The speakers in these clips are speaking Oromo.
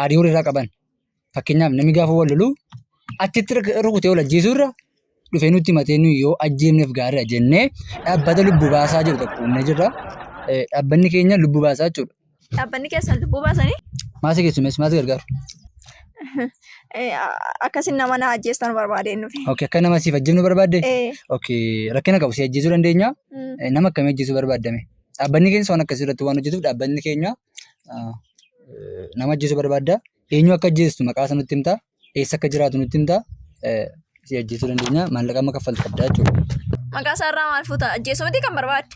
aarii horii irraa qaban. Fakkeenyaaf namni gaafa wal lolu achitti rukutee wal ajjeesuu irra dhufee nutti himatee nuyi yoo ajjeefneef gaariidha jennee dhaabbata lubbuu baasaa jiru tokko humna jirra. Dhaabbanni keenya lubbuu baasaa jechuudha. Dhaabbanni keessan lubbuu baasanii? Maasii keessumees maasii gargaaru. Akkasiin nama na ajjeestan barbaadeen dhufe. Okay, akka nama siif ajjeefnu barbaadde? Ee. Okay, rakkina qabu si ajjeesuu dandeenya. Nama akkamii ajjeesuu barbaadame? Dhaabbanni keenya waan akkasii irratti waan hojjetuuf dhaabbanni keenya nama ajjeesuu barbaadda. Eenyu akka ajjeestu maqaa isaa nutti himtaa? Eessa akka jiraatu nutti himtaa? Si ajjeesuu dandeenya. Maallaqa amma kaffaltu qabda jechuudha. Maqaa isaa irraa maal fuuta? Ajjeesuu miti kan barbaadde.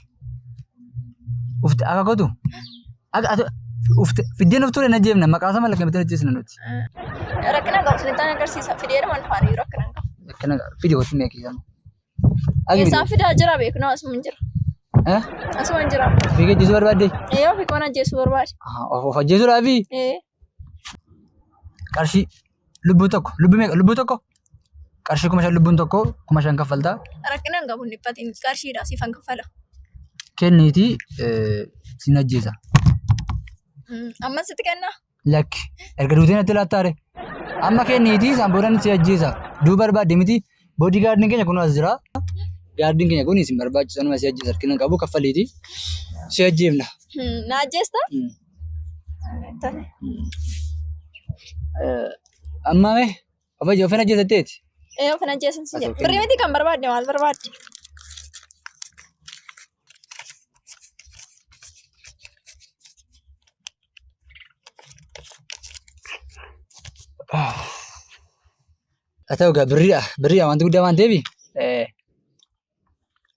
Ufte akka gootu? Akka ati ufte fiddeen uftuu hin ajjeefna. Maqaa isaa maallaqa miti ajjeesna nuti. Rakkina qabu isinitti agarsiisa. Fideera waan faana jiru rakkina hin qabu. Akkana fidi wajjin meeqii Eessaa fidaa jira beeknaa asuma hin jira. Eh? Asuma hin jira. Fiiga ajjeesuu barbaadde? Ee ofii koon ajjeesuu barbaade. Ah, Of of ajjeesuudhaafi Ee qarshii lubbuu tokko lubbuu meeqa lubbuu tokko qarshii kuma shan lubbuun tokko kuma shan kaffaltaa rakkina hin qabu hin dhiphatiin qarshiidha siifan kaffala. kenniitii eh, sin ajjeesa. Mm, Amma sitti kennaa? lakki erga duutee natti laattaare amma kenniitii isaan booda si ajjeesa duu barbaadde miti boodii gaardiin keenya kunoo as jira gaardiin keenya kun isin barbaachisa numa si ajjeesa harkina qabu kaffaliitii si ajjeefna. Na ajjeesta? Amma mee of ajje ofin ajjeesatteeti. Ee ofin ajjeesan si jedhe. Birrii miti kan barbaadde maal barbaadde? Haa ta'u egaa birriidha. Birriidha wanti guddaa waan ta'eef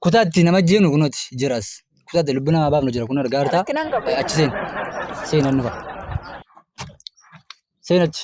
kutaa itti nama jeenu kunooti jiras. Kutaa itti lubbuu namaa baafnu jira kun argaa jirtaa. Achi seenu. Seenan dhufa. Seenachi.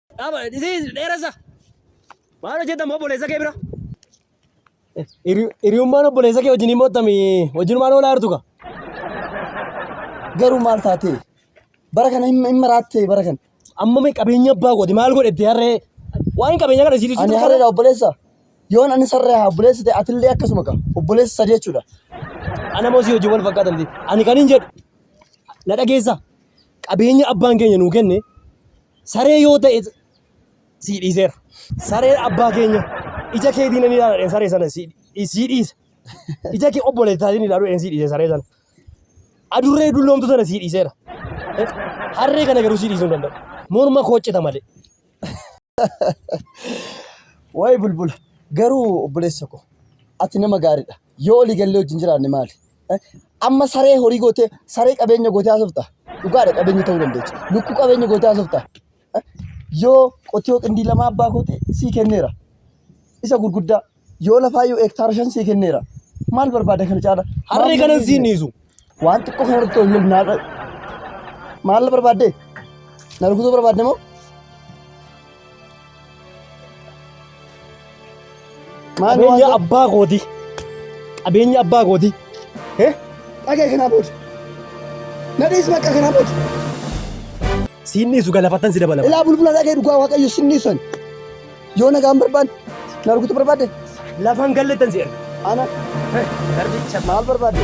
Dhaaba dhisii dheeressa. Maal hojjetan moo obboleessa kee bira? Hiriyummaan obboleessa kee wajjin mootami wajjin maal oolaa jirtu kaa? Garuu maal taatee? Bara kana hin hin maraattee bara kana. Amma mee qabeenya abbaa kooti maal godhetti harree? Waan qabeenya kana isiitu Ani harreedha obboleessa. Yoon ani sarree haa obboleessa ta'e atillee akkasuma kaa. Obboleessa sadii jechuudha. Ana moo si hojii wal fakkaatan ta'e. Ani kan hin jedhu. Na dhageessa. Qabeenya abbaan keenya nuu kenne Saree yoo ta'e sii dhiiseera. Sareen abbaa keenya ija keetiin ni ilaaladheen saree sana sii sii dhiise. Ija kee obboleessaatiin ilaaluudheen sii dhiise saree sana. Adurree dulloomtu sana sii dhiiseera. Eh, Harree kana garuu sii dhiisuu hin danda'u. Morma koo cita malee. Waa'ee bulbula. Garuu obboleessa koo ati nama gaariidha. Yoo olii gallee wajjin jiraanne maali? Amma saree horii gootee saree qabeenya gootee haasofta. Dhugaadha qabeenya ta'uu dandeecha. Lukkuu qabeenya gootee haasofta. Yoo qotiyoo qindii lama abbaa koote sii kenneera. Isa gurguddaa yoo lafaa yoo hektaara shan sii kenneera. Maal barbaada kana caala? Harree kanan siin dhiisu. Waan xiqqoo kana irratti wal lolnaa dha. Maal barbaadde? Na rukutuu barbaadde moo? Qabeenya abbaa kooti. Qabeenya abbaa kooti. Dhagee kanaa booda. Nadhiis bakka kanaa booda. Siin dhiisu galafattan si dabalama. Ilaa bulbula dhagee dhugaa waaqayyo sin dhiisan. Yoo nagaan barbaadde na rukutu barbaadde. Lafan gallettan si erga. Ana Garbicha maal barbaadde?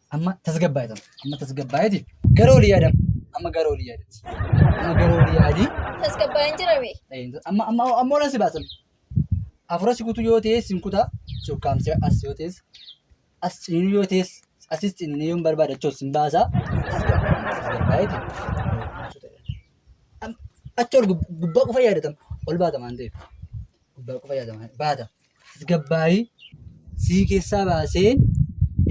Amma tasgabbaa'e tana. Amma tasgabbaa'eeti. Gara olii yaadama. Amma gara olii yaadati. Amma gara olii yaadii. Tasgabbaa'een jira bee. Amma amma amma ola si baasan. Afura si kutu yoo ta'e sin kuta si ukkaamsee as yoo ta'es as ciniinu yoo ta'es asis ciniinee yoon barbaade achoo sin baasa. Tasgabbaa'eeti. Achi ol gubbaa qofa yaadatan ol baata waan ta'eef. gubbaa qofa yaadama baata tasgabbaa'ii sii keessaa baasee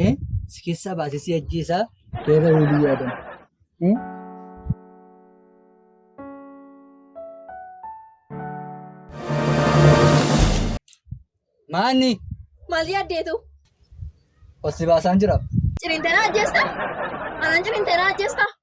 eh, si keessaa baasee si ajjeesaa beera waliin yaadama. Eh? Maanni Maal yaaddeetu? ol si baasaan jira. Cirintanaa ajjeesta? Anaan cirintanaa ajjeesta?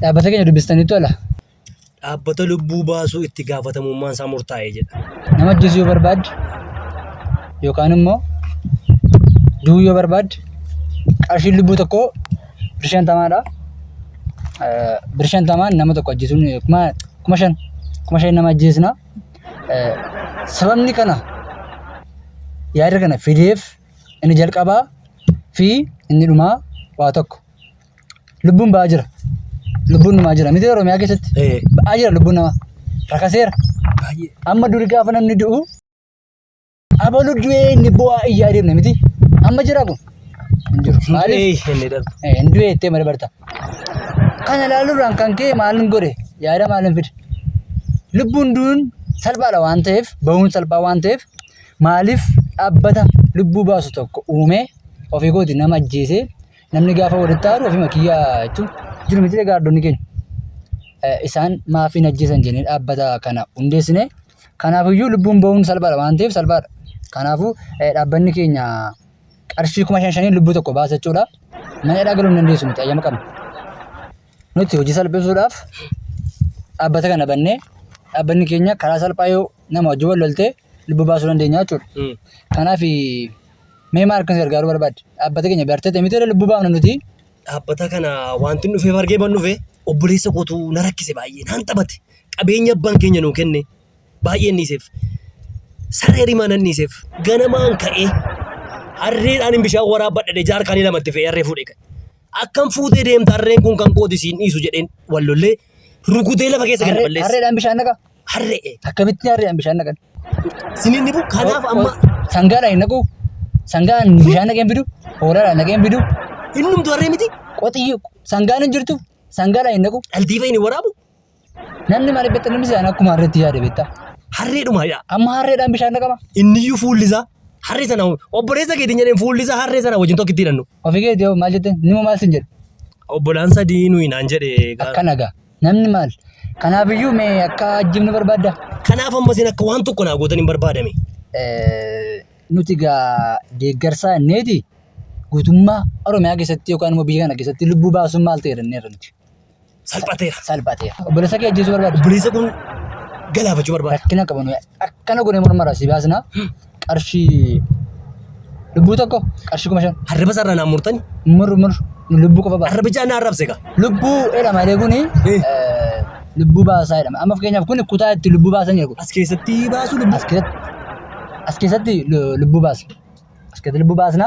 Dhaabbata keenya dubbistaniittu ala. Dhaabbata lubbuu baasuu itti gaafatamummaan isaa murtaa'e jedha. Nama ajjeesuu yoo barbaadde yookaan immoo du'uu yoo barbaadde qarshiin lubbuu tokkoo bir shantamaadha. Eh, Bir shantamaan nama tokko ajjeesuun eh, kuma kuma shan kuma shan nama ajjeesna. Eh, Sababni kana yaada kana fideef inni jalqabaa fi inni dhumaa waa tokko. lubbuun ba'aa jira. Lubbuun namaa jira. Miti Oromiyaa keessatti Eh. ba'aa jira lubbuun namaa. Rakaseera. Baay'ee. Amma duri gaafa namni du'u abalu du'ee inni bu'aa iyyaa deemne miti. Amma jira kun. Hin jiru. Maaliif? Maaliif? Inni darba. Eh, Hin du'ee ittee malee barta. Kana ilaaluudhaan kan ka'e maalin godhe yaada maalin fide. Lubbuun du'uun salphaadha waan ta'eef bahuun salphaa waan ta'eef maaliif dhaabbata lubbuu baasu tokko uumee ofii kooti nama ajjeesee Namni gaafa walitti aaru ofima kiyya jechuun jiru miti gaardonni keenya. Isaan maaf hin ajjeesan jennee dhaabbata kana hundeessine. Kanaafiyyuu lubbuun bahuun salphaadha waan ta'eef salphaadha. Kanaafuu dhaabbanni keenya qarshii kuma shan shaniin lubbuu tokko baasa jechuudha. Mana hidhaa galuu hin dandeessu nuti ayyama qabna. Nuti hojii salphisuudhaaf dhaabbata kana bannee dhaabbanni keenya karaa salphaa yoo nama wajjin wal loltee lubbuu baasuu dandeenya jechuudha. Mm. Kanaaf mee maal akkas gargaaruu barbaadde? Dhaabbata keenya bartee miti irra lubbuu baafna nuti. Dhaabbata kana wanti inni dhufeef argee ban dhufe obboleessa kootu na rakkise baay'ee naan taphate qabeenya abbaan keenya nuu kenne baay'ee inni dhiiseef saree rimaa nan dhiiseef ganamaan ka'ee harreedhaan hin bishaan waraabadhe jaarkaanii lamatti fe'ee harree fuudhee ka'e. Akkan fuutee deemta harreen kun kan kooti siin dhiisu jedheen wallollee Rukutee lafa keessa gadi balleessa. Harreedhaan bishaan naqa. Harre'e. Akkamitti harreedhaan bishaan naqan? Siniin dhibu kanaaf amma Sangaadhaan hin naqu. Sangaan bishaan naqee hin fidu. Hoolaadhaan naqee hin fidu. innumtu harree miti. Qoxii sangaan hin jirtu. Sangaadhaan hin naqu. Dhaltii fa'iin hin waraabu. Namni maal beekta namni sana akkuma harreetti yaada beekta. Harreedhuma yaa. Amma harreedhaan bishaan naqama. Inniyyuu fuulli isaa Harree sana obboleessa keetiin jedheen fuulli isaa harree sana wajjin tokkitti hidhannu. Ofii keetii hoo maal jetteen? Nima maal sin jedhe? Obbolaan sadii nuyi naan jedhe. Akkana gaa. Namni maal? Kanaaf iyyuu mee akka ajjibnu barbaadda? Kanaaf amma isin akka waan tokko naa gootan hin barbaadame. Eh, Nuti gaa deeggarsaa inneeti guutummaa Oromiyaa keessatti yookaan immoo biyya kana keessatti lubbuu baasuun maal ta'e jedhanneerra nuti. salphateera. Salphateera. Obboleessa kee ajjeesuu barbaadu. Obboleessa kun galaafachuu barbaada. Rakkina qaban akkana godhee mormara si baasna qarshii lubbuu tokko qarshii kuma shan. Harriba sarara naan murtani. Mur mur lubbuu qofa baasa. Harriba jaa naa arrabse gaa. Lubbuu jedhama jedhee kuni lubbuu baasaa jedhama. Amma fakkeenyaaf kuni kutaa itti lubbuu baasan jedhu. As keessatti baasuu lubbuu. As keessatti as keessatti lubbuu baasa. As keessatti lubbuu baasna.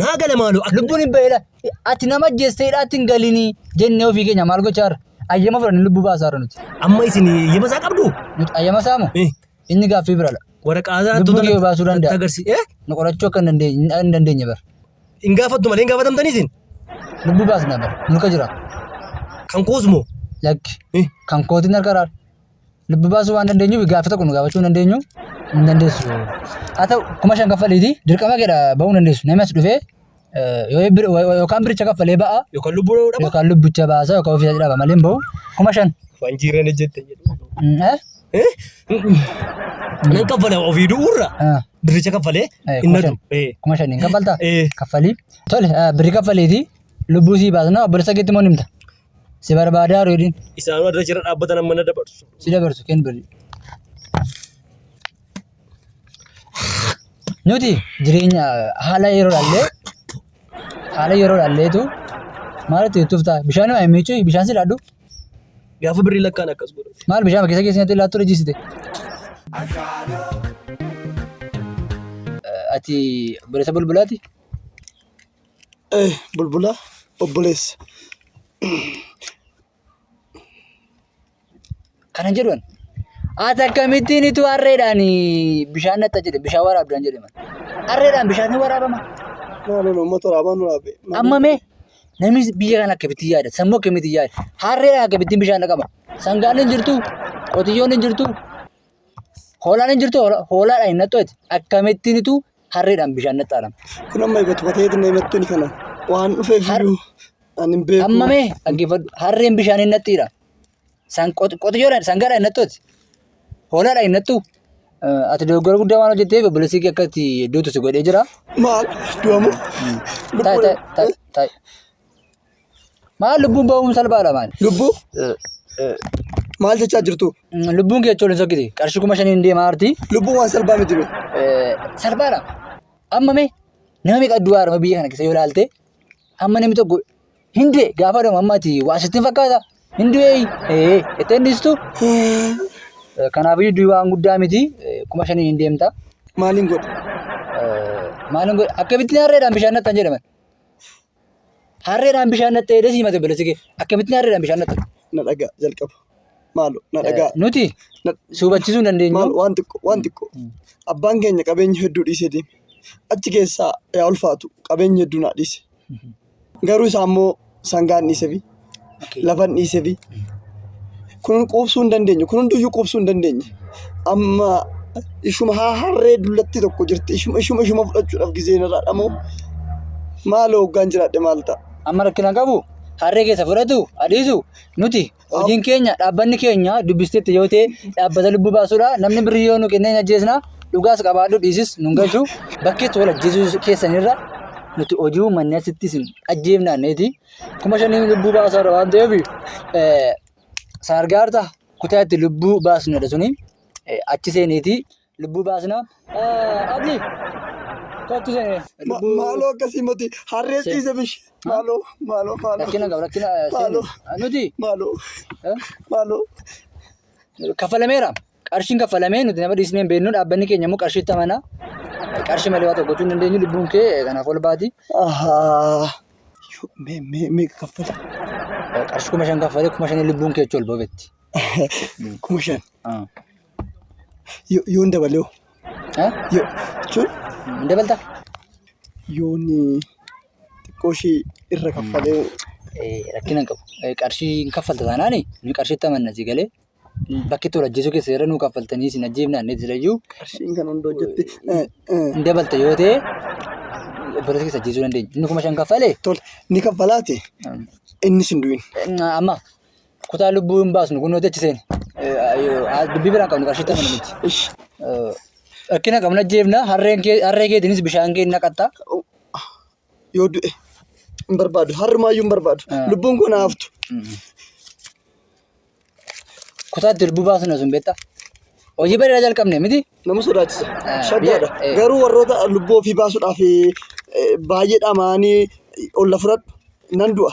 Naa gala maaloo akka. Lubbuun hin baheedha. Ati nama ajjeesteedha ati hin galinii jennee ofii keenya maal gochaa jirra? Ayyama fudhanne lubbuu baasaa jirra nuti. Amma isin yema isaa qabdu? Nuti ayyama isaa moo? Eh. Inni gaaffii biraadha. Waraqaa isaa Lubbuu kee baasuu danda'a. Agarsi. Eh? Nu qorachuu akka hin dandeenye hin dandeenye bara. Hin gaafattu malee hin gaafatamtanii isin? Lubbuu baasna bara. Mulka jira. Kan koos moo? Lakki. Eh. Kan kootiin harka raara. lubbu baasuu waan dandeenyuuf gaaffii tokko nu gaafachuu hin dandeenyu hin dandeessu. Haa ta'u kuma shan kaffaliiti dirqama keedha ba'uu hin dandeessu. Namni as dhufee yookaan biricha kaffalee ba'a yookaan lubbuu dha'uu dhaba. yookaan lubbicha baasa yookaan ofii dhaba malee hin ba'u kuma shan. Waan jiirreen jette jedhu. Mm, eh? Eh? Nan kaffala ofii du'uurra Ah, biricha kaffalee eh, hin kuma nadu. shan. Eh. Kuma shaniin kaffaltaa? Eh. Kaffalii. Tole ah, birri kaffaliiti lubbuu sii baasna obboleessa keetti moo nimta? Si barbaadaa reediin. Isaanuu adda jira dhaabbatan amma na dabarsu. Si dabarsu kenn bali. Nuti jireenya haala yeroo dhallee haala yeroo dhalleetu maalitti itti tuftaa bishaan hima miichuu bishaan si laadhu Gaafa birrii lakkaan akkas godhu. maal bishaan keessa keessatti laattu rejisite. Ati barreessa bulbulaati? Eh bulbula obboleessa. Kana jedhu ani. Ati akkamittiin ituu harreedhaan bishaan natta jedhe bishaan waraabdaan jedhe man. Harreedhaan bishaan ni waraabama. Maaloo nama toraabaa nu raabee. Amma mee namni biyya kana akkamittiin yaada sammuu akkamittiin yaada harreedhaan akkamittiin bishaan dhaqaba. Sangaan hin jirtu qotiyyoon hin jirtu hoolaan hin jirtu hoola- hoolaadhaan hin nattooti akkamittiin ituu harreedhaan bishaan naxxaadhaan. Kun amma egaa tuqatee itti naamattiin kana waan dhufeef Har- iyyuu ani hin beeku. Amma mee dhaggeeffadhu harreen bishaan hin naxxiidha. San qot- qotiyyoodhaan sangaadhaan hin naxxooti. Hoolaadhaan hin naxxu. Eh, Ati dogoggora guddaa waan hojjetteef obboleessi kee akka itti duutu si godhee jira. Maal du'amu? Taa'e taa'e taa'e taa'e. Maal lubbuun ba'uun salphaadha maal? Lubbuu maal jechaa jirtu? Lubbuun kee ijoolleen sokkiti. Qarshii kuma shaniin deemaa arti. Lubbuun waan salphaa miti bee. Salphaadha. Amma mee nama meeqa du'aa arma biyya kana keessa yoo ilaalte amma namni tokko hin du'e gaafa dhumu amma ati waa sitti hin fakkaata hin du'e ee itti hin dhiistu. Kanaafiyyuu du'i waan guddaa miti kuma shaniin hin deemta. Maaliin godhe? Maaliin godhe? Akka bittinaa reedhaan bishaan nattan jedhaman. Harreedhaan bishaan naqxee jedhee siimate obboleessi kee. Akkamittiin harreedhaan bishaan naqxu? Na dhagaa jalqaba. Maalo na dhagaa. Nuti Na- suubachiisuu hin dandeenyu. Maal waan xiqqoo waan xiqqoo. Abbaan keenya qabeenya hedduu dhiisee deeme. Achi keessaa yaa ulfaatu qabeenya hedduu naa dhiise. Garuu isaa immoo sangaan dhiisefi Lafan dhiisefi. Kun quubsuu hin dandeenye. Kun hunduyyuu quubsuu hin dandeenye. Amma ishuma haa harree dullatti tokko jirti. Ishuma ishuma ishuma fudhachuudhaaf gizeen irraa dhamoo. Maaloo hoggaan jiraadhe maal ta'a? Amma rakkina qabu harree keessa fudhatu adiisu nuti hojiin keenya dhaabbanni keenya dubbisteetti yoo ta'e dhaabbata lubbuu baasuudha namni birrii yoo nu kennee hin ajjeesna dhugaas qabaadhu dhiisis nun galchu bakkeetti wal ajjeesuu keessanirra nuti hojii uummanni asitti isin ajjeefnaanneeti kuma shaniin lubbuu baasaadha waan ta'eef saargaarta kutaa itti lubbuu baasnudha suni achi seeneeti lubbuu baasna. Abdi kottu seenee lubbuu Maaloo akkasii moti harree ciise bishi. Maaloo maaloo maaloo rakkina qaba rakkina Maaloo. nuti maaloo maaloo. kaffalameera. Qarshiin kaffalamee nuti nama dhiisnee hin beeknu dhaabbanni keenya immoo qarshiitti amana. Qarshii malee waa tokko gochuu hin dandeenyu lubbuun kee kanaaf ol baati. Ahaa. Yoo, Mee mee mee kaffala. Qarshii kuma shan kaffalee kuma shanii lubbuun kee achi ol ba'etti. Kuma shan. Yoo yoo hin dabalee hoo? Yoo jechuun Hin dabaltaa? yoon xiqqoo ishee irra kaffalee Rakkina hin qabu. Qarshii hin kaffalta taanaani nuyi qarshiitti amanna si galee. bakki itti wal ajjeesuu keessan irra nuu kaffaltanii isin ajjeefnaan ni jedhayyuu Qarshiin kan hunda hojjetti. hin dabalta yoo ta'e obboleessa keessa ajjeesuu dandeenya. Inni kuma shan kaffale Tole ni kaffalaati. Innis hin du'in. amma kutaa lubbuu hin baasnu kun nuti achi seene dubbii biraan qabnu qarshii ta'an miti. Ish. Rakkina qabna ajjeefna harreen kee- harree keetiinis bishaan kee hin naqatta. yoo du'e hin barbaadu har'umaayyuu hin barbaadu Ah. lubbuun koo naa haftu Kutaatti lubbuu baasna sun beektaa? Hojii bareedaa jalqabne miti? nama sodaachisa Ah, shaggaadha biyya- eh. garuu warroota lubbuu ofii baasuudhaaf eh, baay'ee dhamaanii olla fudhadhu nan du'a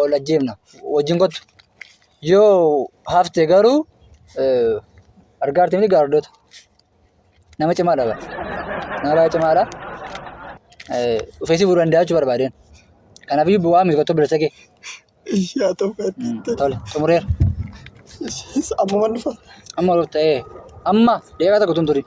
ol ajjeefna wajjin kottu yoo hafte garuu eh, argaa artimni gaardoota nama cimaadha bara nama baay'ee cimaadha Eh, dhufee si fuudhuu danda'a jechuu barbaadeen kanaaf iyyuu bu'aa miti kottu bilisa kee Ishii haa ta'u kan Mm, tole xumureera ishii ammuman dhufa. amma ol ta'ee amma deeqaa tokko tun turin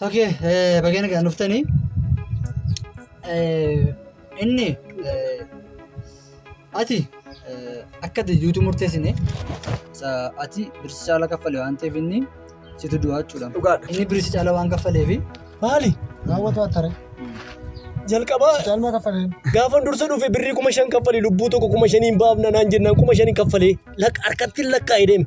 Okay, eh, baga nagaan dhuftanii. Eh, inni eh, ati eh, akka ati duutuu murteessine sa ati birsi caala kaffale waan ta'eef inni situ du'aa jechuudha. Dhugaadha. Inni birsi caala waan kaffaleef Maali? Raawwatu waan tare. Jalqabaa Caalmaa kaffaleen. gaafan dursa dhufe birrii kuma shan kaffalee lubbuu tokko kuma shaniin baafna naan jennaan kuma shaniin kaffalee lakka harkattiin lakkaa'ee deeme.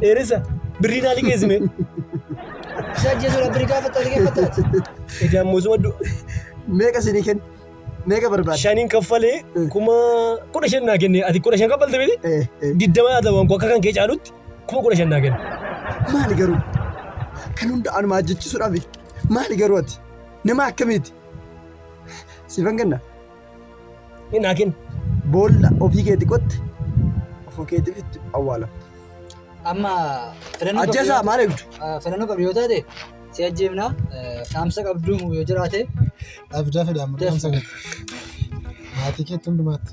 Dheeressa birrii naa liqeessime. Isa ajjeesuudha birrii gaafata liqeeffataati. Egaa moosuma du- Meeqa isinii kenna? Meeqa barbaada? shaniin kaffalee kuma kudha shan naa kenne ati kudha shan kaffalte miti Eh, eh. diddama haa ta'u akka kan kee caalutti kuma kudha shan naa kenne. Maali garuu? Kan hunda anuma ajjeechisuudhaaf maali garuu ati? Nama akkamiiti? Siifan kenna. Hin hakin. Boolla ofii keeti qotte ofii keetiif itti awwaalamta. Amma filannoo qabdu Ajjeesaa yoo- maal eegdu? Ah, filannoo qabdu yoo taate si ajjeefna eh, dhaamsa qabdu yoo jiraate Abdaa fedha amma Yes. dhaamsa gadi. Maatii keetti hundumaatti.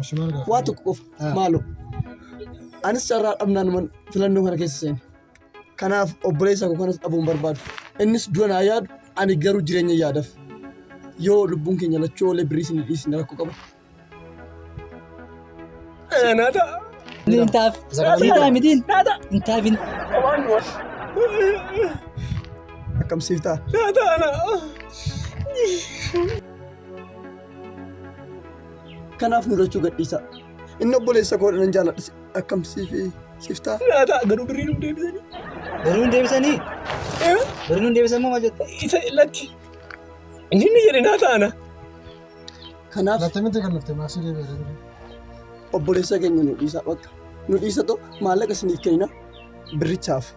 Ishi maal gaafa? Waa tokko qofa Ah. maaloo. Anis carraa dhabnaan man filannoo kana keessa seene. Kanaaf obboleessa koo kanas dhabuun barbaadu. Innis du'a naa yaadu ani garuu jireenya yaadaf. Yoo lubbuun keenya lachuu oolee birrii isin dhiisin rakkoo qaba. Naata. Intaaf. Isa kana Siitaa miidha. mitiin. Naata. Intaafin. Waan du'a. Akkam siif ta'a? Naata ana. Kanaaf nu lachuu gadhiisaa. Inni obboleessa koodha nan jaaladha. Akkam siif siif ta'a? Naa ta'a garuu birrii nuuf deebisanii. Birrii nuuf deebisanii? Birrii nuuf deebisan moo maal jette? Isa lakki. Inni inni jedhe naa ta'ana. Kanaaf. Lattee miti kan lafte maasii deebi'ee. Obboleessa keenya nu dhiisaa bakka. Nu dhiisa too maallaqa isiniif kennina birrichaaf.